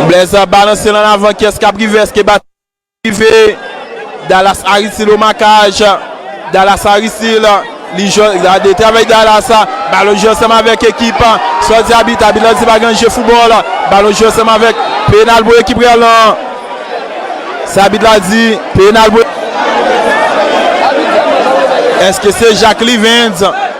Blaise ap balanse l an avan kiyès kap rive eske Baton kap rive Dallas Aristide o makaj Dallas Aristide li jwenn gade travay Dallas balon jwe ansanm avèk ekip sò di abit abit la di pa gen je foubòl balon jwe ansanm avèk penal pou ekip real lan sa abit la di penal pou eske se Jacques Livinz.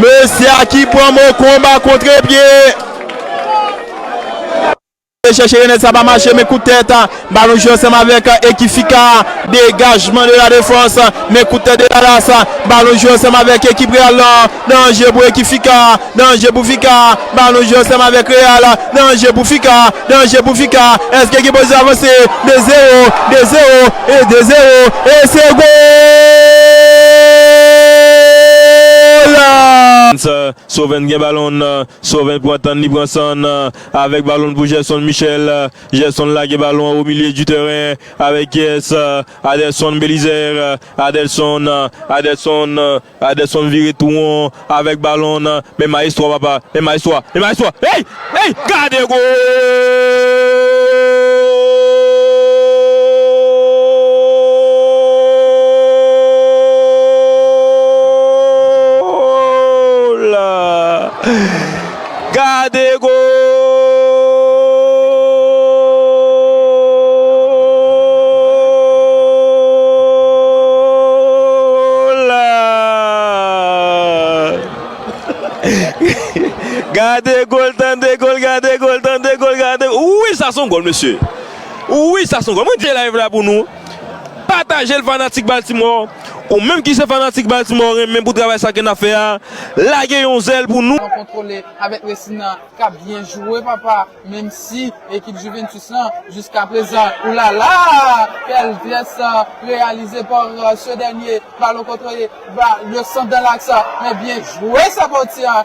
Mesye a ki pran mo konba kontre pye. E chèche Renel sa pa mache men kout tèt. Balon jwe ansanm avèk Eki Fika. Degajman de la defans men kout tèt de Dallas. Balon jwe ansanm avèk ekip Real lan. Danje pou Eki Fika. Danje pou Fica, balon jwe ansanm avèk Real, danje pou Fica, danje pou Fica, èske ekip Oz avanse? 2 zero, 2 zero, e 2 zero, e se goal! Soven gen balon n, Soven pran tan n, li pran san n, avèk balon n pou Gerson Michel, Gerson lage balon an o milye di tèren, avèk kiyès? Adelson Belizaire, Adelson, Adelson, Adelson vire tou won avèk balon w nan men Maestro papa, men Maestro a, men Maestro a, hey! Hey! Gade goal! Gade gol tande gol gade gol tande gol gade wi sa son gol mesye wi sa son gol mwen te live la pou nou patajel fanatik baltimore. Ou menm ki se fanatik Baltimore renmen pou travay sa ke nap fè a lage yon zèl pou nou. An kontwole avèk resi nan kap byen jwe papa menm si ekip Juventus lan jiska prezan oulala kèl pyès reyalize par se dènye balon kontwole ba le sant dan laks men byen jwe Saportia